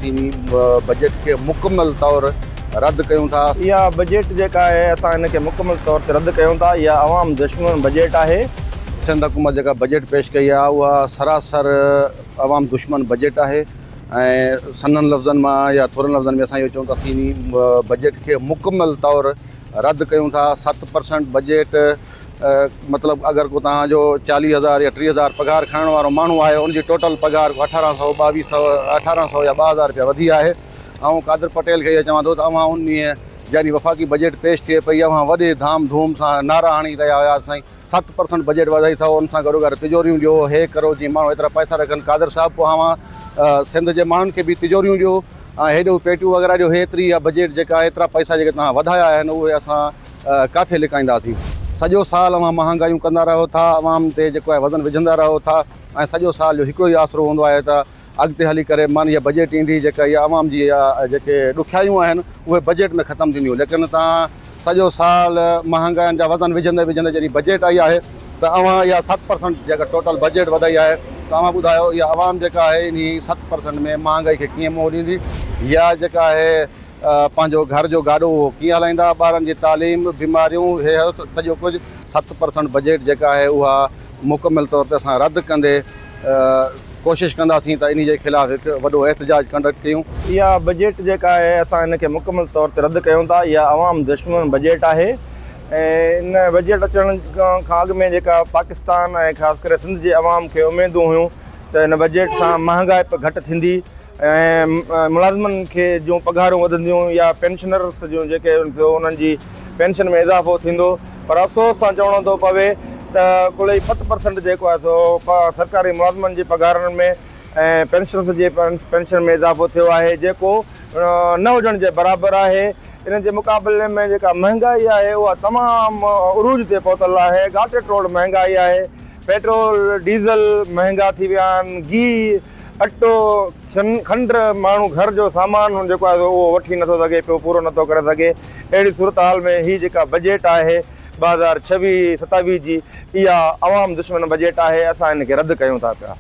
چيني بجيٽ کي مڪمل طور رد ڪيون ٿا. اها بجيٽ جيڪا آهي اسان ان کي مڪمل طور تي رد ڪيون ٿا، اها عوام دشمن بجيٽ آهي. سنڌ حڪومت جيڪا بجيٽ پيش ڪئي آهي اها سراسر عوام دشمن بجيٽ آهي ۽ سنهن لفظن مان يا ٿورن لفظن ۾ اسان اهو چئون ٿا چيني بجيٽ کي مڪمل طور رد ڪيون ٿا، ست پرسنٽ بجيٽ. مطلب اگر ڪو توهان جو چاليهه هزار يا ٽيهه هزار پگهار کڻڻ وارو ماڻهو آهي ان جي ٽوٽل پگهار کان اٺارهن سؤ ٻاويهه سؤ اٺارهن سؤ يا ٻه هزار رپيا وڌي آهي آئون قادر پٽيل کي اهي چوان ٿو ته اوهان انهيء يعني وفاقي بجيٽ پيش ٿئي پئي اوهان وڏي ڌام ڌوم سان نعرا هڻي رهيا هيا ته سائين ست پرسنٽ بجيٽ وڌائي ٿئو ان سان گڏوگڏ تجوريون ڏيو هي ڪرو جيئن ماڻهو ايترا پئسا رکن قادر صاحب پوء اوهان سنڌ جي ماڻهن کي به تجوريون ڏيو ۽ هيڏيون پيٽيون وغيره ڏيو هي ايتري اها بجيٽ جيڪا ايترا پئسا جيڪي توهان وڌايا آهن اهي اسان ڪاٿي لڪائينداسين؟ سڄو سال اوهان مهانگايون ڪندا رهو ٿا، عوام تي جيڪو آهي وزن وجهندا رهو ٿا ۽ سڄو سال جو هڪڙو ئي آسرو هوندو آهي ته اڳتي هلي ڪري من هيء بجيٽ ايندي جيڪا هيء عوام جي جيڪي ڏکيائيون آهن اهي بجيٽ ۾ ختم ٿينديون ليڪن توهان سڄو سال مهانگاين جا وزن وجهندي وجهندي جڏهن بجيٽ آئي آهي ته اوهان اها ست پرسنٽ جيڪا ٽوٽل بجيٽ وڌائي آهي ته اوهان ٻڌايو اها عوام جيڪا آهي انهي ست پرسنٽ ۾ مهانگائي کي ڪيئن منهن ڏيندي يا جيڪا آهي پنهنجو گهر جو گاڏو اهو ڪيئن هلائيندا، ٻارن جي تعليم، بيماريون، هي هو سڄو ڪجهه. ست پرسنٽ بجيٽ جيڪا آهي اها مڪمل طور تي اسان رد ڪندي ڪوشش ڪنداسين ته انهي جي خلاف هڪ وڏو احتجاج ڪنڊڪٽ ڪيون. اها بجيٽ جيڪا آهي اسان ان کي مڪمل طور تي رد ڪيون ٿا، اها عوام دشمن بجيٽ آهي ۽ ان بجيٽ اچڻ کان اڳ ۾ جيڪا پاڪستان ۽ خاص ڪري سنڌ جي عوام کي اميدون هيون ته ان بجيٽ سان مهانگائپ گهٽ ٿيندي، ۽ ملازمن کي جون پگهارون وڌنديون يا پينشنرس جون جيڪي ٿيو انهن جي پينشن ۾ اضافو ٿيندو پر افسوس سان چوڻو ٿو پوي ته ڪل ئي ست پرسنٽ جيڪو آهي سو سرڪاري ملازمن جي پگهارن ۾ ۽ پينشنرس جي پينشن ۾ اضافو ٿيو آهي جيڪو نه هجڻ جي برابر آهي ان جي مقابلي ۾ جيڪا مهنگائي آهي اها تمام عروج تي پهتل آهي ڳاٽي ٽوڙ مهنگائي آهي پيٽرول ڊيزل مهنگا ٿي ويا آهن گيهه اٽو، کنڊ، ماڻهو گهر جو سامان جيڪو آهي سو اهو وٺي نٿو سگهي پيو، پورو نٿو ڪري سگهي. اهڙي صورتحال ۾ هي جيڪا بجيٽ آهي ٻه هزار ڇويهه ستاويهه جي اها عوام دشمن بجيٽ آهي، اسان ان کي رد ڪيون ٿا پيا.